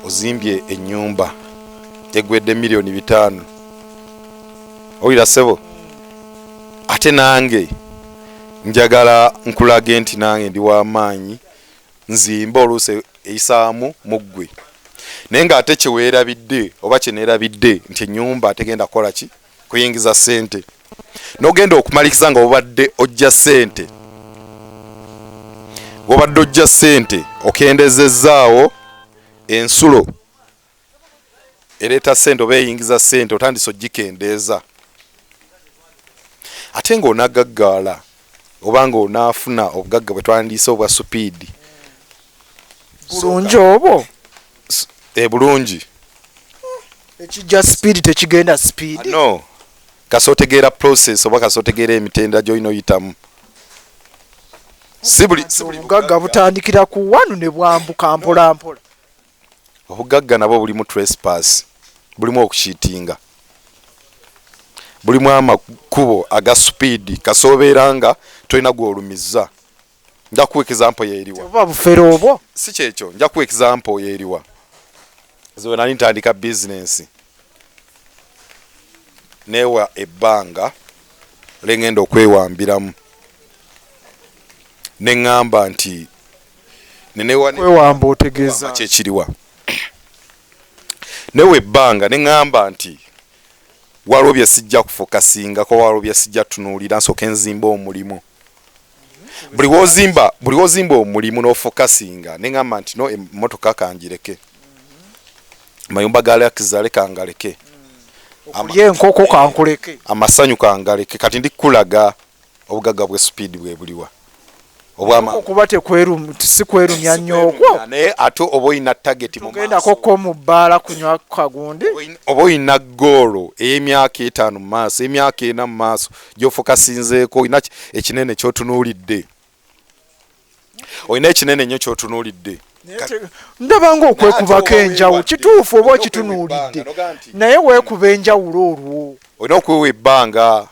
ozimbye enyumba egwedde miliyoni bitaano owulira sebo ate nange njagala nkulage nti nange ndi wamaanyi nzimba oluusi eyisaamu muggwe naye nga ate kyewerabidde oba kyenerabidde nti enyumba tegenda kukola ki kuyingiza sente nogenda okumalikiza nga obadde ojja sente wobadde ojja sente okendezezzaawo ensulo ereeta sente oba eyingiza sente otandise ogikendeeza ate ngaonagaggaala oba nga onaafuna obugagga bwe twandiise obwa supiidi sunja obo ebulungi eh, ekijja speed tekigenda speed ah, no kasotegeera process oba kasotegeera emitendera gyolina oyitamu obugagga butandikira ku wanu ne bwambuka mpolampola obugagga nabwo bulimu trespass bulimu okukitinga bulimu amakubo aga speed kasobeera nga tolina gwolumizza nja kuwa example yeeriwa oba bufere obwo si kyekyo nja kuwa example yeeriwa zewe nali ntandika business newa ebbanga lengenda okwewambiramu neŋŋamba nti nenewakwewamba otegeeza kyekiriwa newa ebbanga neŋŋamba nti waliwo bye sijja kufokasingako waliwo bye sijja tunuulira nsooka enzimba omulimu buli wozimba buli wozimba omulimu n'ofokasinga ne ŋamba nti no emmotoka kangireke amayumba ga lakizale kangaleke okulya enkoko kankuleke amasanyu kangaleke kati ndi kukulaga obugagga bwe supiidi bwe buliwa okuba si kwerumya nnyo okwo naye ate oba olina tageti mugendako ko mu bbaala kunywa kagundi oba olina goolo ey'emyaka etaano mu maaso emyaka ena mu maaso gyofokasinzeeko olina ekinene kyotunuulidde olina ekinene nnyo kyotunuulidde ndaba nga okwekubako enjawulo kituufu oba okitunuulidde naye weekuba enjawulo olwo olina okwewa ebbanga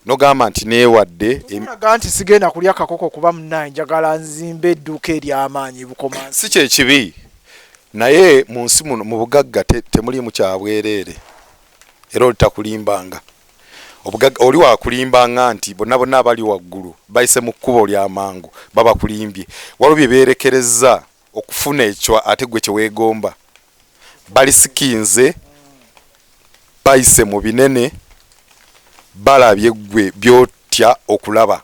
nogamba nti neewadde aga nti sigenda kulya kakoko kuba munaye njagala nzimba edduuka ery'amaanyi bukoma si kyekibi naye mu nsi muno mu bugagga temuliimu kyabwereere era olitakulimbanga Obugagga oli wakulimba nga nti bonna bonna abali waggulu bayise mu kkubo lya mangu baba bakulimbye. Waliwo bye beerekerezza okufuna ekyo ate ggwe kye weegomba. Balisikinze, bayise mu binene, balabye ggwe by'otya okulaba.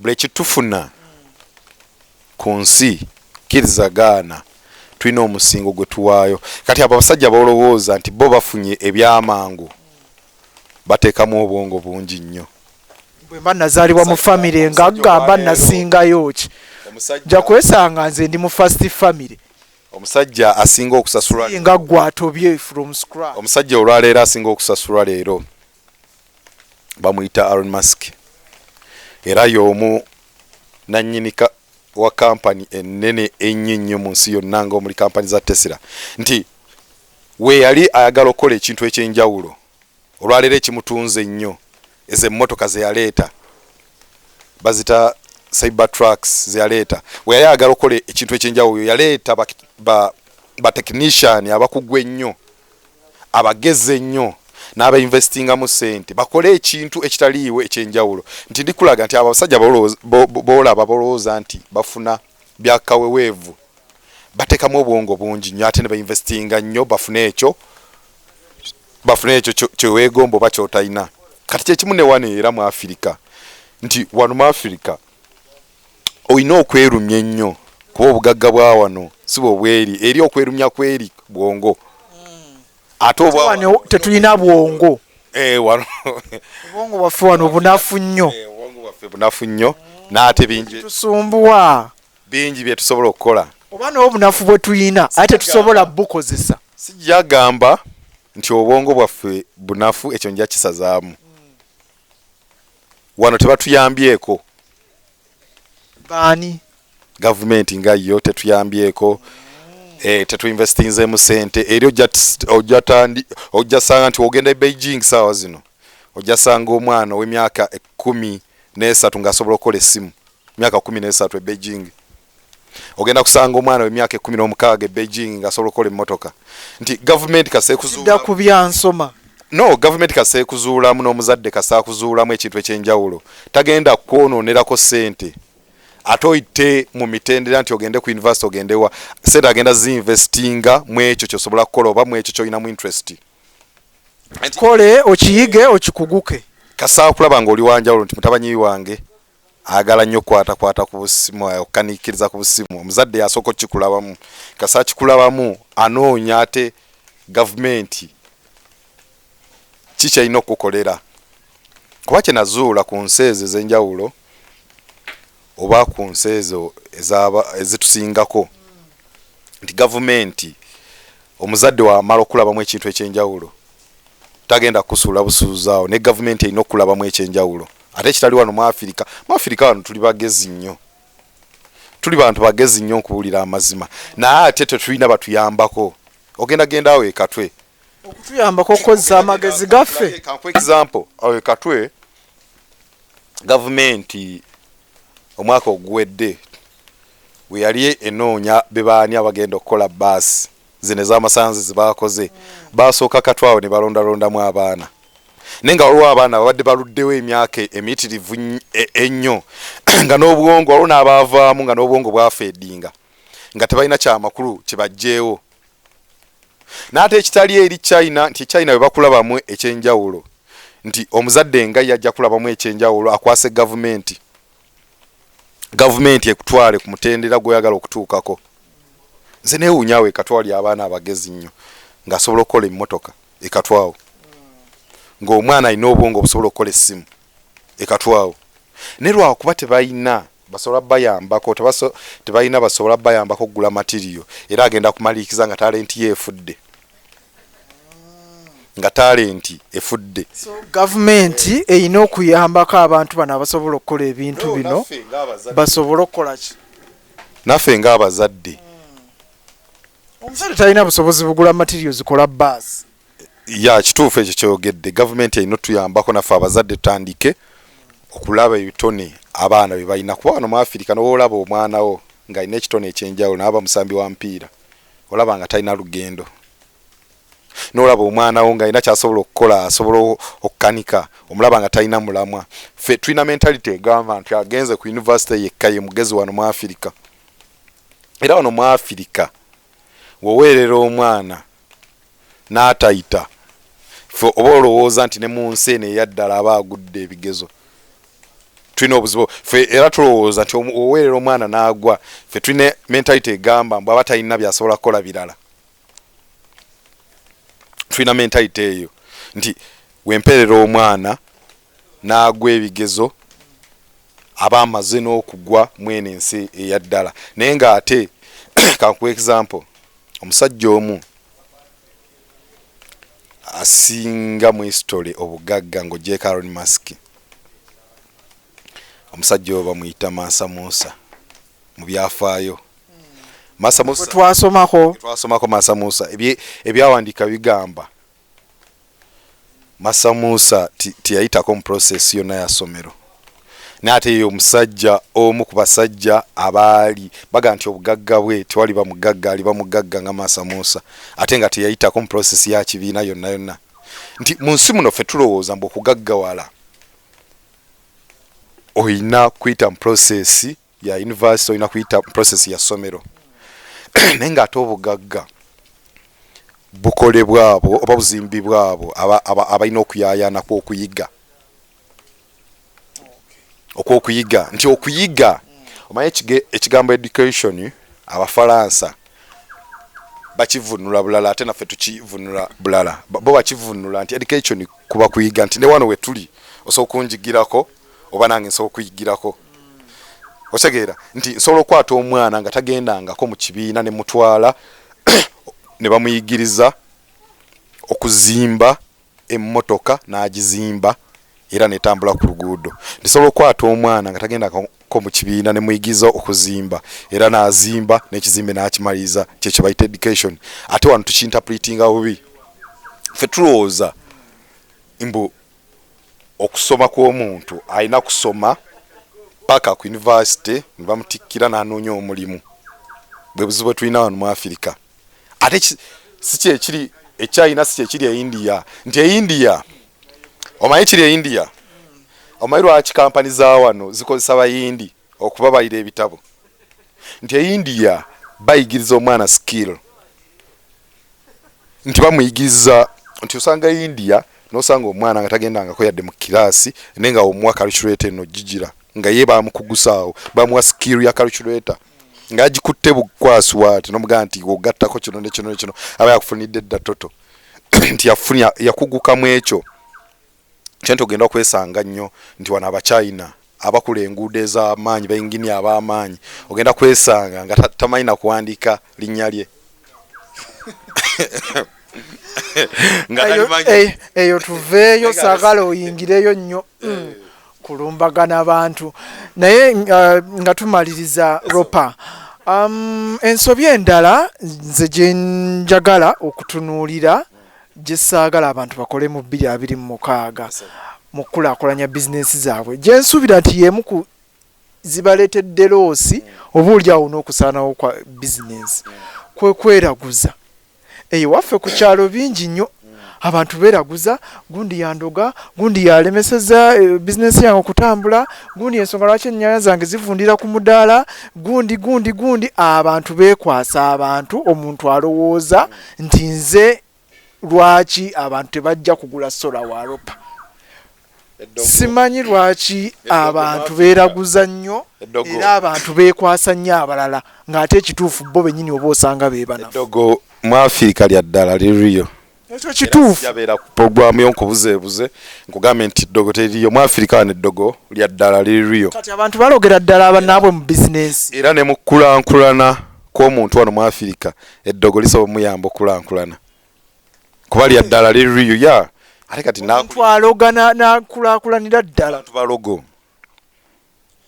buli kitufuna ku nsi kiriza gaana tulina omusingo gwe tuwaayo kati abo abasajja bolowooza nti bo bafunye ebyamangu bateekamu obwongo bungi nnyo bwemba nazaalibwa mu famire nga gamba nasingayo ki nja kwesanga nze ndi mu fast famire omusajja asinga okusasulanga gwe atobye from scratch omusajja olwaleero asinga okusasulwa leero bamuyita Elon Musk era y'omu nannyini wa kampani ennene ennyo ennyo mu nsi yonna nga omuli kampani za Tesla nti we yali ayagala okukola ekintu eky'enjawulo olwaleero ekimutunze ennyo ezo emmotoka ze yaleeta bazita cyber trucks ze yaleeta we yali ayagala okukola ekintu eky'enjawulo yaleeta batechnician ba abakugu ennyo abagezi ennyo n'abainvestingamu ssente bakole ekintu ekitaliiwo ekyenjawulo nti ndikulaga nti abo abasajja boolaba bolowooza nti bafuna byakaweweevu batekamu obwongo bungi nnyo ate ne bainvestinga nnyo bafune ekyo bafune ekyo kyeweegomba oba kyotalina kati kyekimu ne wano era mu afirika nti wano mu afirika olina okwerumya ennyo kuba obugagga bwa wano si bwe bweri eri okwerumya kweri bwongo ate obwa wano tetulina bwongo eh, wano obwongo bwaffe wano bunafu nnyo eh, obwongo bwaffe bunafu nnyo n'ate bingi tusumbuwa bingi bye tusobola okukola oba n'obunafu bwe tulina aye tetusobola bukozesa sijja gamba nti obwongo bwaffe bunafu ekyo nja kisazaamu wano tebatuyambyeko baani gavumenti nga yo tetuyambyeko eh, tetuinvestinzemu sente eri ojjasanga nti ogenda e beijing saawa zino ojjasanga omwana ow'emyaka ekumi n'esatu ng'asobola okukola essimu myaka kumi n'esatu e beijing ogenda kusanga omwana wemyaka ekumi nomukaaga e beijing nga asobola okukola emmotoka nti gavumenti kasekuzuda ku byansoma no gavumenti kasekuzuulamu n'omuzadde kasakuzuulamu ekintu ekyenjawulo tagenda kwononerako sente ate oyite mu mitendera nti ogende ku univesity ogendewa sente agenda zinvestinga mu ekyo kyosobola kukola oba mu ekyo kyolina mu interest kole okiyige okikuguke kasakulaba nga oli wanjawulo nti mutabanyi wange ayagala nnyo okukwatakwata ku busimu okukaniikiriza ku busimu omuzadde yasooka okukikulabamu kasa akikulabamu anoonya ate gavumenti ki kyalina okukukolera kuba kyenazuula ku nsi ezo ez'enjawulo oba ku nsi ezo ezitusingako nti gavumenti omuzadde wamala okulabamu ekintu ekyenjawulo tagenda kusuula busuuzi awo ne gavumenti erina okulabamu ekyenjawulo ate kitali wano mu afirika mu afirika wano tuli bagezi nnyo tuli bantu bagezi nnyo nkubuulira amazima naye ate tetulina batuyambako ogenda genda awo ekatwe okutuyambako okukozesa amagezi gaffe example awo ekatwe gavumenti omwaka oguwedde weyali enoonya bebaani abagenda okukola baasi zino ez'amasanzi zebaakoze baasooka katu awo ne balondalondamu abaana naye nga waliwo abaana babadde baluddewo emyaka emiyitirivu e, ennyo nga n'obwongo waliwo n'abaavaamu nga n'obwongo bwafeedinga nga tebalina kyamakulu kibajjeewo n'ate ekitali eri china nti china bwe bakulabamu ekyenjawulo nti omuzadde nga yajja kulabamu ekyenjawulo akwase gavumenti gavumenti ekutwale ku mutendera gweyagala okutuukako nze newunyawo ekatwali abaana abagezi nnyo ngaasobola okukola emmotoka ekatwawo ngaomwana alina obwongo obusobola okukola essimu ekatwawo naye lwakuba tebalina basobola bayambako tebalina basobola bayambako okugula matiriyo era agenda kumaliikiza nga talenti yo efudde nga talenti efudde so gavumenti erina okuyambako abantu bano abasobola okukola ebintu bino basobole okukolaki naffe ngaabazadde hmm. omusajja talina busobozi bugula matirio zikola baasi ya kituufu ekyo kyogedde gavumenti erina otuyambako naffe abazadde tutandike okulaba ebitone abaana bye balina kuba wano mu afirika noba olaba omwanawo ng'alina ekitone ekyenjawulo naaba musambi wa mupiira olaba nga talina lugendo nolaba omwana wo nga alina kyasobola okukola asobola okukanika omulaba nga talina mulamwa fe tulina mentality egamba nti agenze ku univesity yekka ye mugezi wano mu afirika era wano mu afirika woweerera omwana n'atayita ffe oba olowooza nti ne mu nsi eno eyaddala aba agudde ebigezo tulina obuzibu ffe era tulowooza nti oweerera omwana n'agwa ffe tulina mentalite egamba mbu aba talina byasobola kukola birala tulina mentalite eyo nti wempeerera omwana n'agwa ebigezo aba amaze n'okugwa mweno ensi eyaddala naye nga ate kankuwa example omusajja omu asinga mu history obugagga nga ojjeeko aron mask omusajja oyo bamuyita mansa musa mu byafaayo hmm. twasomako mansa musa ebyawandiika bigamba masa musa teyayitako mu process yonna ya somero naye ate ye omusajja omu ku basajja abaali baga nti obugagga bwe tewali bamugagga ali bamugagga nga masa musa ate nga teyayitako mu process ya kibiina yonna yonna nti mu nsi muno ffe tulowooza mbu okugaggawala olina kuyita mu process ya university olina kuyita process ya ssomero naye ng'ate obugagga bukolebwa abo oba buzimbibwa abo abalina okuyayanako okuyiga okwokuyiga nti okuyiga omanyi ekigambo education abafalansa bakivunula bulala ate naffe tukivunula bulala bo bakivunula nti education kuba kuyiga nti newano wetuli osobola okunjigirako oba nange nsobola okuyigirako otegeera nti nsobola okukwata omwana nga tagendangako mu kibiina ne mutwala ne bamuyigiriza okuzimba emmotoka n'agizimba era netambula ku luguudo ndisobola okukwata omwana nga tagendako mu kibiina ne muyigiriza okuzimba era n'azimba n'ekizimbe n'akimaliriza kyekyo bayita education ate wano tukinterpretinga bubi fe tulowooza mbu okusoma kw'omuntu alina kusoma paka ku university ne bamutikkira n'anoonya omulimu bwe buzibu bwe tulina wano mu afirika ate si kyekiri ekyayina si kyekiri e india nti e india omanyi kiri e india omanyi lwaki kampani za wano zikozesa bayindi okubabalira ebitabo nti e india bayigiriza omwana skill nti bamuyigiriza nti osanga e india nosanga omwana nga tagendangako yadde mu kiraasi naye nga omuwa calculator eno gigira nga ye bamukugusaawo bamuwa skill ya calculator ngagikutte bukwaswat nomugaa nti ogattako kino nekino nekino aba yakufunidde dda toto nti yakuguka mu ekyo Sente ogenda kwesanga nnyo nti wano abachina abakula enguudo ezamaanyi ba engineer abamaanyi ogenda kwesanga nga tamanyi nakuwandika linnya lye eh, eyo tuveeyo sagala oyingireyo nnyo eh. mm. kulumbagana abantu naye uh, nga tumaliriza ropa um, ensobi endala nze gyenjagala okutunuulira gye saagala abantu bakole mu bbiri abiri mu mukaaga mu kukulaakulanya bizinensi zaabwe gye nsuubira nti y'emu ku zibaleetedde loosi oba oli awo n'okusaanawo kwa bizinensi kwe kweraguza eyo waffe ku kyalo bingi nnyo abantu beeraguza gundi yandoga gundi yalemeseza eh, bizinensi yange okutambula gundi ensonga lwaki ennyanya zange zivundira ku mudaala gundi gundi gundi abantu beekwasa abantu omuntu alowooza nti nze lwaki abantu tebajja kugula sola wa ropa simanyi lwaki abantu beeraguza nnyo era abantu beekwasa nnyo abalala ng'ate ekituufu bo bennyini oba osanga beebanadogo mu afirika lya ddala liriyo ekyo kituufu yabeera ku pogwamu yo nkubuzeebuze nkugambye nti ddogo teriyo mu afirika wano eddogo lya ddala liriyo kati abantu balogera ddala abanaabwe mu bizinensi era ne mu kulankulana kwomuntu wano mwafirika eddogo lisobola omuyamba okukulankulana kuba lya ddala liriyo ya ate kati ntwaloga nakulakulanira ddala tubalogo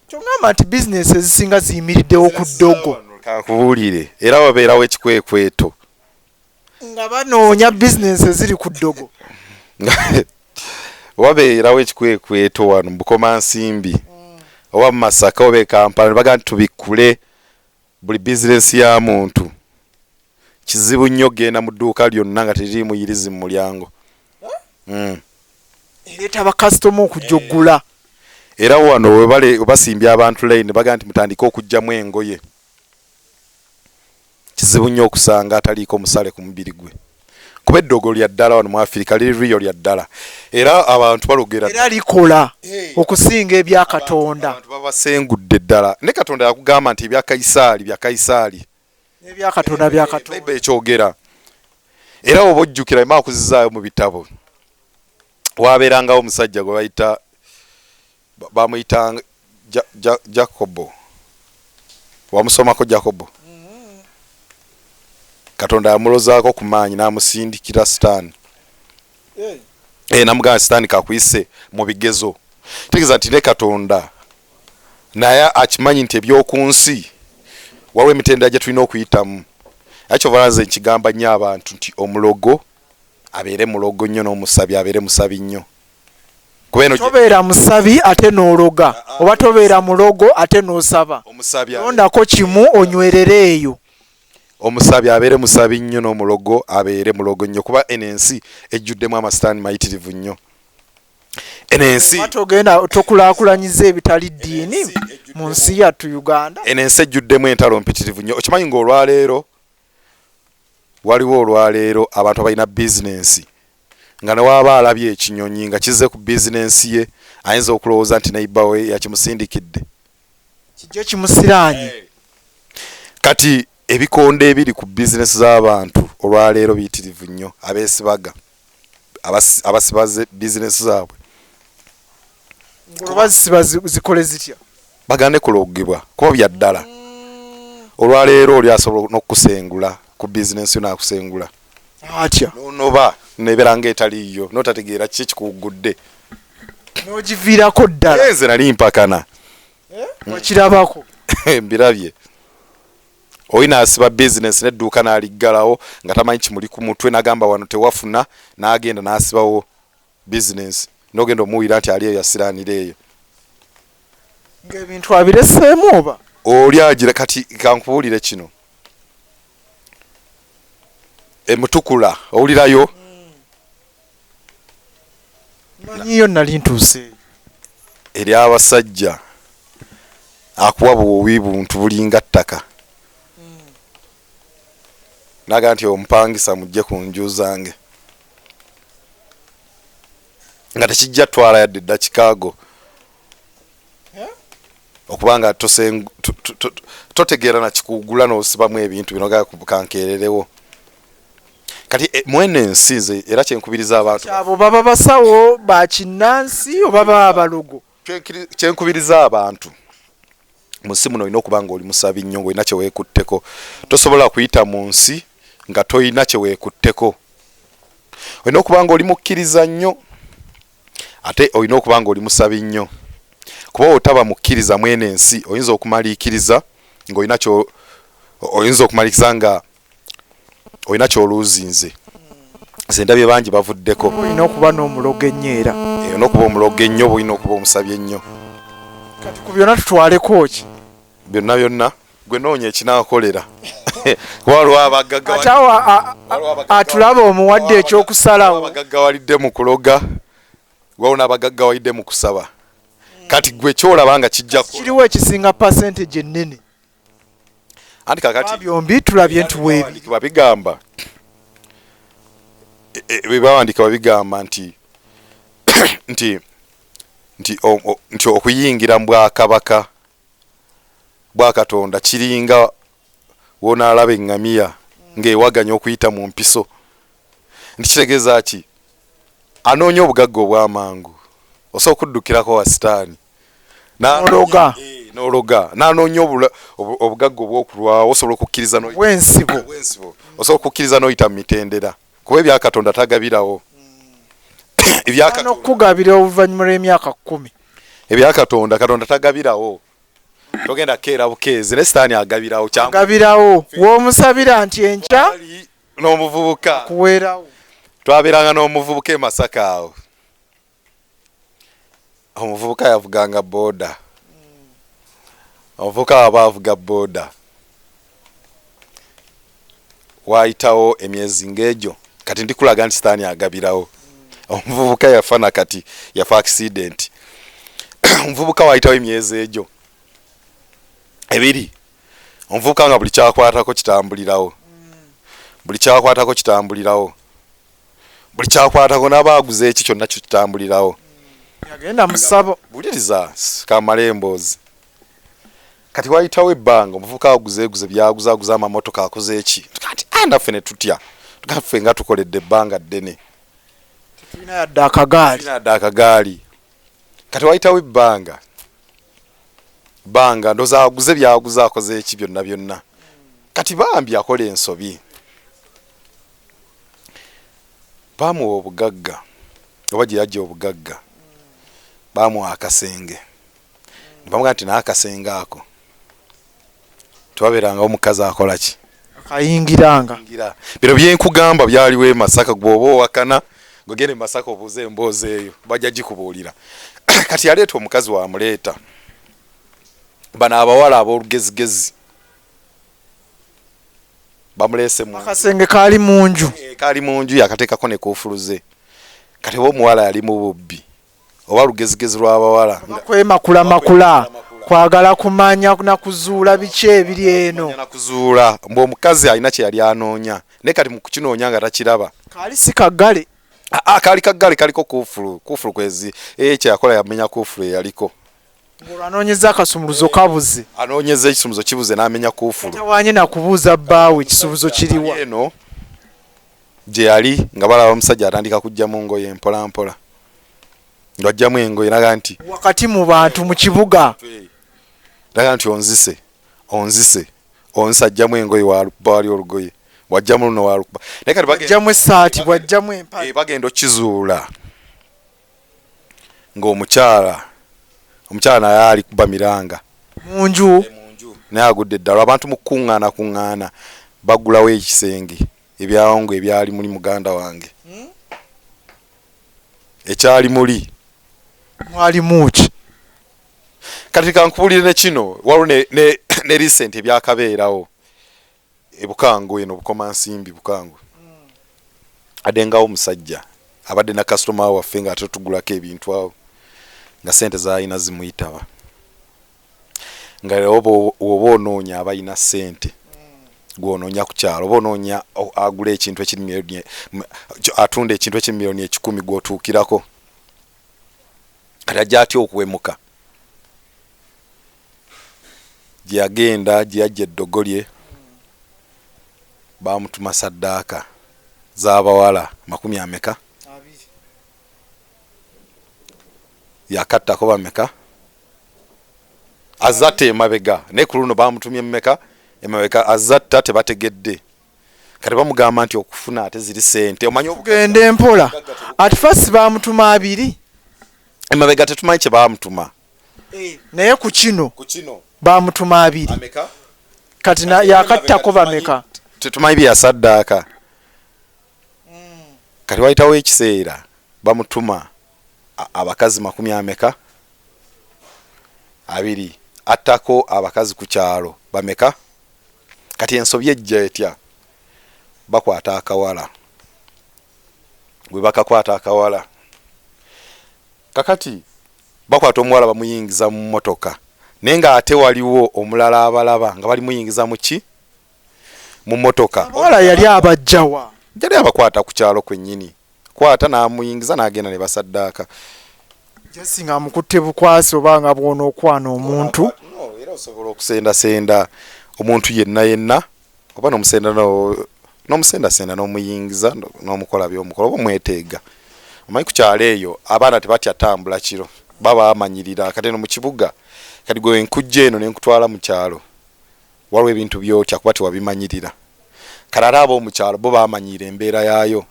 kyogamba nti bizinesi ezisinga ziyimiriddewo ku ddogo kankubuulire era wabeerawo ekikwekweto nga banoonya bizinesi eziri ku ddogo wabeerawo ekikwekweto wano mubukomansimbi mm. oba mumasaka oba ekampala nebaga nti tubikkule Buli bizinensi ya muntu kizibu nnyo okugenda mu dduuka lyonna nga teririimu yirizi mu mulyango. Hmm. Ereeta bakasitoma okujja okugula. Eh. Era wano we basimbye abantu layini bagamba nti mutandike okuggyamu engoye. Kizibu nnyo okusanga ataliiko musale ku mubiri gwe. kuba eddogo lya ddala wano mu afirika liri riyo lya ddala era abantu balogera era likola eh. okusinga ebya katonda babasengudde ddala ne katonda yakugamba nti ebya kayisaali bya kayisaali ebya katonda bya katonda ekyogera era oba ojjukira ema akuzizaayo mu bitabo wabeerangawo omusajja gwe bayita Bamuyitanga ja, ja, Jakobo. Wamusomako Jakobo? Mm-hmm. Katonda yamulozaako ku maanyi n'amusindikira sitaani. Hey. Hey, eh, namugamba sitaani kakuyise mu bigezo. Tegeeza nti ne Katonda naye akimanyi nti eby'oku nsi waliwo emitendera gye tulina okuyitamu. Ekyo balanze nkigamba nnyo abantu nti omulogo abeere mulogo nnyo n'omusabi abeere musabi nnyo. tobeera musabi ate n'ologa ah, ah, oba tobeera mulogo ate n'osaba londako kimu onywerere eyo omusabi abeere musabi nnyo n'omulogo abeere mulogo nnyo kuba eno ensi ejjuddemu amasitaani mayitirivu nnyo eno ensi togenda tokulakulanyiza ebitali ddiini mu nsi yattu uganda eno ensi ejjuddemu entalo mpitirivu nnyo okimanyi ng'olwaleero Waliwo olwaleero abantu abalina bizinensi nga ne w'aba alabye ekinyonyi nga kizze ku bizinensi ye ayinza okulowooza nti neyiba we yakimusindikidde kijjo kimusiraanye. Kati ebikondo ebiri ku bizinensi z'abantu olwaleero biyitirivu nnyo abeesibaga. abasibaze bizinesi zaabwe olwazisiba zikole zitya bagande kulogebwa kuba bya ddala mm. olwaleero oli asobola n'okukusengula ku bizinesi yo nakusengula atya nonoba nebeera nga etaliiyo notategeera kiki ekikuwuggudde nogiviirako ddala nze nali mpakana eh? okirabako mbirabye Oyo nasiba business ne duka naliggalawo nga tamanyi kimuli ku mutwe nagamba wano tewafuna nagenda nasibawo business nogenda omuwira nti aliyo yasiranira eyo ngebintu abireseemu oba oli agira kati kankubulire kino emutukula owulirayo manyiyo nali ntuuse eri abasajja akuwa buwubi buntu bulinga ttaka naga nti omupangisa mujje ku nju zange nga tekijja twala yadde dakikago okuba nga totegeera nakikugula nosibamu ebintu bino kankeererewo kati eh, mwene ensi nze era kyenkubiriza abantu abo baba basawo bakinnansi oba baba balogo kyenkubiriza abantu mu nsi muno olina okuba nga oli musabi nnyo ngaolina kyeweekutteko tosobola kuyita mu nsi nga tolina kyeweekutteko olina okuba nga oli mukkiriza nnyo ate olina okuba nga oli musabi nnyo kuba otaba mukkiriza mwene ensi oyinza okumaliikiriza ngaolina oyinza okumalikiriza nga olina kyoluuzinze nze ndabye bangi bavuddeko olina okuba n'omulogo ennyo era olina okuba omulogo ennyo oba olina okuba omusabye ennyo kati ku byonna tutwaleko ki byonna byonna gwe noonya ekinakolera atulaba omuwadde ekyokusalawo abagaggawalidde mu kuloga waliwo n'abagaggawalidde mu kusaba kati gwe kyolaba nga kijjakiriwo ekisinga percentage ennene anti kakati byombi tulabye nti webiwa bigamba bebawandika e, babigamba nti nti nti nti okuyingira mu bwakabaka bwa katonda kiringa wonaalaba eŋŋamiya ng'ewaganya okuyita mu mpiso nti kitegeeza ki anoonya obugagga obw'amangu osobola okuddukirako wa sitaani nologa eh, nologa nanoonya obugagga obwokulwawo osobola okukkiriza wensibo osobola okukkiriza n'oyita mu mitendera kuba ebyakatonda tagabirawo ebyakugabira oluvannyuma lw'emyaka kkumi ebyakatonda katonda tagabirawo togenda kukeera bukeezi ne sitaani agabirawo kyagabirawo w'omusabira nti enkya n'omuvubuka kuweerawo twabeeranga n'omuvubuka e masaka awo omuvubuka yavuganga boda omuvubuka waba avuga boda waayitawo emyezi ng'egyo kati ndikulaga nti sitaani agabirawo omuvubuka yafa na kati yafa akisidenti omuvubuka waayitawo emyezi egyo ebiri omuvubuka nga buli kyakwatako kitambulirawo buli kyakwatako kitambulirawo buli kyakwatako naba aguze eki kyonna kitambulirawo yagenda musabo buliriza kamale emboozi kati wayitawo ebbanga omuvuka aguzeguze byaguzaguza amamotoka akoze eki kati andaffe ah, ne tutya gaffe nga tukoledde ebbanga ddene tulina yadde akagaali yadde akagaali kati wayitawo ebbanga banga ndoza aguze byaguza akoze eki byonna byonna kati bambi akola ensobi baamuwa obugagga oba gye yajja obugagga baamuwa akasenge ne bamugamba nti naye akasenge ako tewabeerangawo mukazi akola ki ayingiranga bino byenkugamba byaliwo e masaka gweoba owakana gwegenda e masaka obuuza emboozi eyo bajja gikubuulira kati yaleeta omukazi wamuleeta bano abawala ab'olugezigezi bamuleese mu akasenge kaali mu nju Eh, kaali mu nju yakateekako ne kuufuluze kati oba omuwala yali mu bubbi oba lugezigezi lw'abawala nga kwemakula makula kwagala kumanya na kuzuula biki ebiri eno kumanya na kuzuula mbu omukazi alina kye yali anoonya naye kati mu kukinoonya nga takiraba kaali si kaggale Ah, ah, kaali kaggale kaliko kuufulu kuufulu kwezi ekyo yakola yamenya kuufulu eyaliko Ng'olwo anoonyezza akasumuluzo kabuze. Anoonyezza ekisumuluzo kibuze n'amenya kkuufulu. Tatawaanye na kubuuza bbaawe kisumuluzo kiri wa. Kampani eno gye yali nga balaba omusajja atandika kuggyamu ngoye mpolampola. Ng'aggyamu engoye n'agamba nti. Wakati mu bantu mu kibuga. N'agamba nti onzise, onzise, onzise aggyamu engoye waalubba wali olugoye, bw'aggyamu luno waalubba. Naye kati bagenda. Bw'aggyamu essaati, bw'aggyamu empale. Bagenda okukizuula. ng'omukyala omukyala naye ali kuba miranga mu nju naye agudde eddalo abantu mu kukuŋŋaana kuŋŋaana bagulawo ekisenge ebyawongo ebyali muli muganda wange hmm? ekyali muli mwali muki kati kankubulire ne kino waliwo ne recent ebyakabeerawo e Bukangwe eno Bukomansimbi Bukangwe adengawo omusajja abadde na kasitoma waffe nga ate tugulako ebintu awo nga sente zalina zimuyitaba nga oba oba onoonya abalina sente gwonoonya ku kyalo oba onoonya agula ekintu ekiri miliyoni atunda ekintu ekiri miliyoni ekikumi gwotuukirako kati ajja atya okuwemuka gyeyagenda gyeyajja eddogo lye bamutuma saddaaka zabawala makumi ameka yakattako bameka azatta emabega naye ku luno bamutumye mumeka emabega azatta tebategedde kati bamugamba nti okufuna ate ziri sente omanyi okugenda empola at first bamutuma abiri emabega tetumanyi kye bamutuma eh, naye ku kino bamutuma abiri kati yakattako bameka tetumanyi byeyasaddaaka hmm. kati wayitawo ekiseera bamutuma abakazi makumi ameka abiri attako abakazi ku kyalo bameka kati ensobi ejja etya bakwata akawala webakakwata akawala kakati bakwata omuwala bamuyingiza mu motoka naye nga ate waliwo omulala abalaba nga balimuyingiza muki mu motoka. Abawala yali abajja wa? Yali abakwata ku kyalo kwennyini, kwata n'amuyingiza n'agenda ne basaddaaka. Jesse nga amukutte bukwasi oba nga bw'onookwana omuntu. No, era osobola okusendasenda omuntu yenna yenna oba n'omusenda no- n'omusendasenda n'omuyingiza no- n'omukola by'omukola oba omweteega. Omanyi ku kyalo eyo abaana tebatya tambula kiro, baba bamanyirira. Kati eno mu kibuga, kati gwe nkujja eno ne nkutwala mu kyalo, Waliwo ebintu by'otya kuba tewabimanyirira. Kale ate ab'omu kyalo bo baamanyiira embeera yaayo.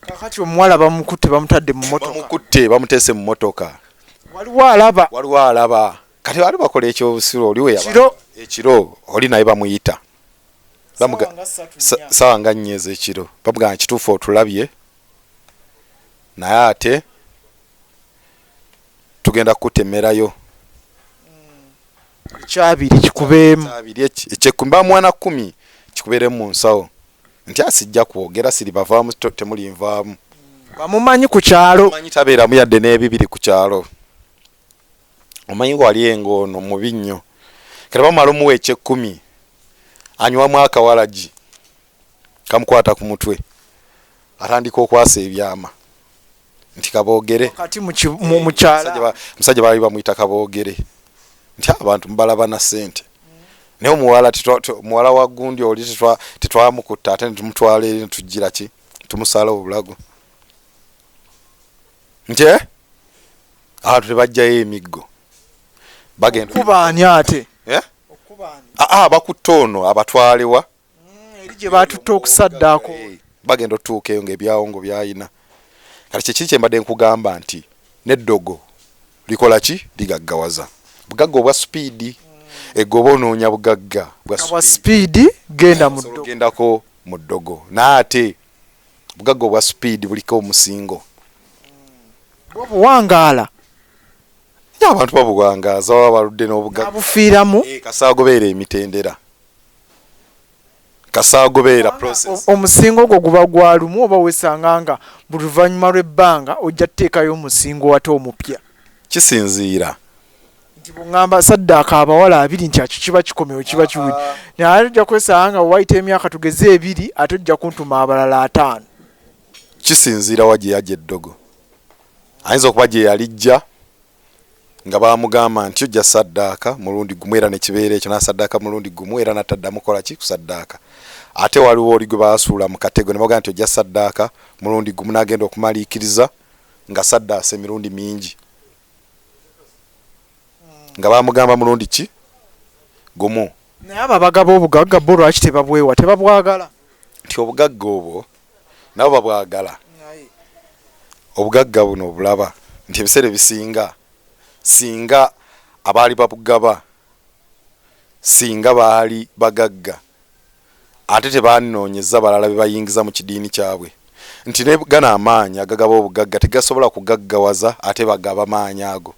Kaakati omuwala bamukutte bamutadde mu mmotoka. Bamukutte bamuteese mu mmotoka. Waliwo alaba. Waliwo alaba. Kati baali bakola ekyobusiru oli we yaba ekiro oli naye bamuyita. Ssaawa nga nnya ez'ekiro bamugamba kituufu otulabye naye ate tugenda kukutemerayo. ekyabiri kikubeemu ekyekumi bamwana kumi kikubeeremu mu nsawo nti asijja kwogera siri bavaamu temulinvaamu bamumanyi ku kyalo manyi tabeeramu yadde n'ebibiri ku kyalo omanyi wali engo ono mubi nnyo kati bamala omuwa ekyekumi anywamu akawalagi kamukwata ku mutwe atandika okwasa ebyama nti kaboogere musajja baali bamuyita kaboogere nti abantu mubalaba na sente naye omuwala muwala wa gundi oli tetwamukutta ate netumutwala eri netujjira ki tumusala obulago nti eh? abantu tebajjayo emiggo bagendakubaani ate eh? ah, ah, bakutte ono abatwalewa mm, eri gye baatutte okusaddaako eh, bagenda otutuuka eyo ng'ebyawongo byayina kati kyekiri kye mbadde nkugamba nti n'eddogo likola ki ligaggawaza bugagga obwa sipiidi mm. egoba onoonya bugagga bwa sipiidi gendagendako mu ddogo naye ate bugagga obwa sipiidi buliko omusingo obuwangaala abantu babuwangaaza baba baludde n'obugabufiiramu eh, kasaagobeera emitendera kasaawo gubeera process omusingo ogwo guba gwa lumu oba wesanga nga buli luvannyuma lw'ebbanga ojja tuteekayo omusingo ate omupya kisinziira nti bungamba saddaaka abawala abiri nti akyo kiba kikomewo kiba kiwuli naye ate ojja kwesanga nga wayita emyaka tugeze ebiri ate ojja kuntuma abalala ataano kisinziira wa gye yagya eddogo ayinza okuba gye yalijja nga baamugamba nti ojja saddaaka mulundi gumu era nekibeera ekyo nasaddaaka mulundi gumu era nataddamu kola ki kusaddaaka ate waliwo oli gwe baasuula mu katego ne bagamba nti ojja saddaaka mulundi gumu n'agenda okumaliikiriza nga saddaasa emirundi mingi nga baamugamba mulundi ki gumu naye abo abagaba obugagga bo lwaki tebabwewa tebabwagala nti obugagga obwo nabo babwagala obugagga buno obulaba nti ebiseera ebisinga singa abaali babugaba singa baali bagagga ate tebanonyeza balala bebayingiza mu kidiini kyabwe nti ne gano amaanyi agagaba obugagga tegasobola kugaggawaza ate bagaba maanyi ago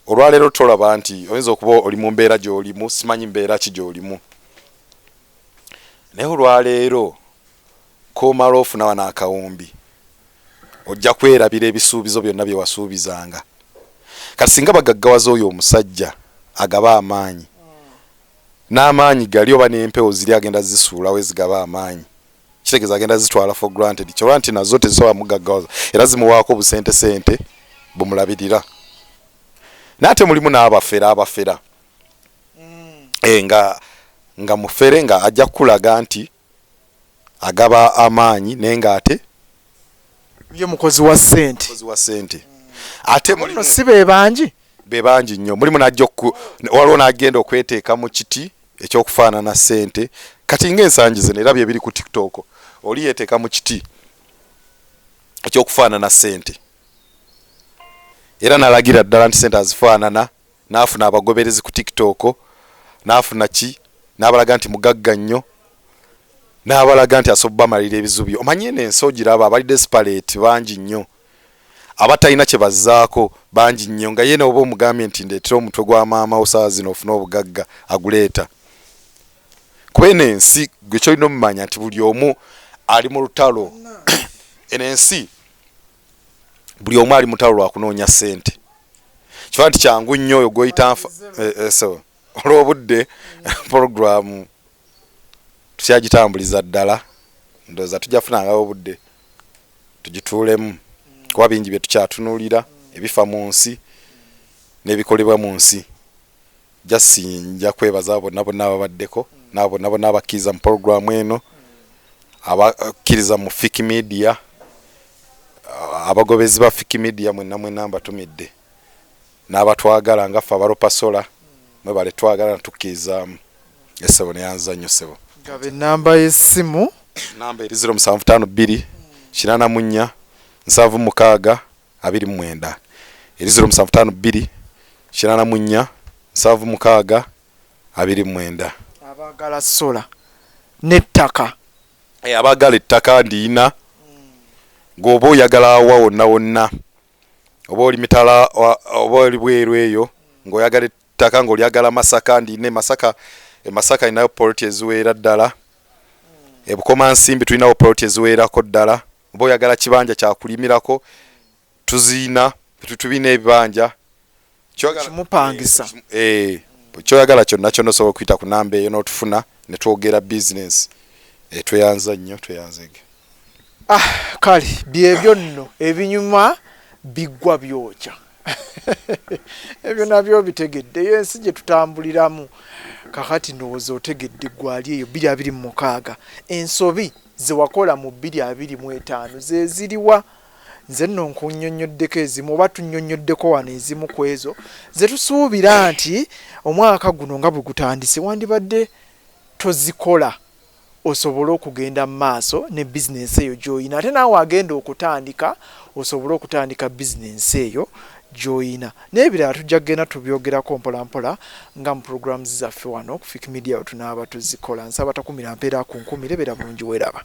olwaleero tolaba nti oyinza okuba oli mu mbeera gy'olimu simanyi mbeera ki gy'olimu naye olwaleero komala ofuna wano akawumbi ojja kwerabira ebisuubizo byonna bye wasuubizanga kati singa bagaggawaza oyo omusajja agaba amaanyi n'amaanyi gali oba n'empewo ziri agenda zisuulawo ezigaba amaanyi kitegeza agenda zitwala for granted kyoba nti nazo tezisobola mugaggawaza era zimuwaako busente sente bumulabirira naye ate mulimu n'abafera abafera mm. e, nga nga mufere nga ajja kukulaga nti agaba amaanyi naye nga ate ye mukozi wa sente mukozi wa sente ate mulimu si bebangi bebangi nnyo mulimu najja waliwo n'agenda okweteeka mu kiti ekyokufaanana ssente kati ngaensangi zino era byebiri ku tiktok oli yeteeka mu kiti ekyokufaanana ssente era nalagira ddala nti sente azifaanana naafuna abagoberezi ku tiktok naafuna ki nabalaga nti mugagga nnyo nabalaga nti asobola bamalira ebizubi omanye eno ensi ogiraba abali desperate bangi nnyo abatalina kye bazzaako bangi nnyo nga ye n'oba omugambye nti ndeetera omutwe gwa maama wo saawa zino ofune obugagga aguleeta. Kuba eno ensi gwe ky'olina omumanya nti buli omu ali mu lutalo eno ensi buli omu ali mu lutalo lwa kunoonya ssente kiba nti kyangu nnyo oyo gw'oyita nfa eh, eh, olw'obudde pulogulaamu tukyagitambuliza ddala ndowooza tujja funangawo obudde tugituulemu kuba bingi bye tukyatunulira ebifa mu nsi n'ebikolebwa mu nsi jasi nja kwebaza abo bonna bonna ababaddeko n'abo bonna bonna abakkiriza mu pologulaamu eno abakkiriza mu fiki midiya abagobezi ba fiki midiya mwenna mwenna mbatumidde n'abatwagala nga ffe abalopasola mwebale twagala natukkiriza Esebo neyanza nnyo sebo. Gaba enamba y'essimu. Namba eri ziro musanvu taano bbiri kinaana mu nnya nsanvu mukaaga abiri mu mwenda eri ziro musanvu taano bbiri kinaana mu nnya nsanvu mukaaga abiri mu mwenda. Abaagala sola n'ettaka. Eh, abaagala ettaka ndiyina gwoba oyagala awa wonna wonna oba oli mitala oba oli bweru eyo ng'oyagala Ttaka nga olyagala Masaka ndi ne Masaka e Masaka ninayo poloti eziweera ddala e Bukomansimbi tulinawo poloti eziweerako ddala oba oyagala kibanja kyakulimirako tuziyina tubina ebibanja kimupangisa eh, kyoyagala kyonna kyonna osobola okuyita ku namba eyo n'otufuna ne twogera bizinensi eh, tweyanza nnyo tweyanzege Ah, kale byebyo nno ebinyuma biggwa byokya ebyo nabyo bitegedde eyo ensi gye tutambuliramu kakati ndowooza otegedde gwali eyo bbiri abiri mu mukaaga ensobi zewakola mu bbiri abiri mu etaano zeziriwa nze nno nkunyonyoddeko ezimu oba tunyonyoddeko wano ezimu ku ezo ze tusuubira nti omwaka guno nga bwe gutandise wandibadde tozikola osobole okugenda mu maaso ne bizinensi eyo gy'olina ate naawe agenda okutandika osobole okutandika bizinensi eyo gy'olina. N'ebirala tujja kugenda tubyogerako mpolampola nga mu pulogulaamu zaffe wano ku Fik Media bwe tunaaba tuzikola. Nsaba takumira mpeera akunkumire. Beera bulungi, weeraba.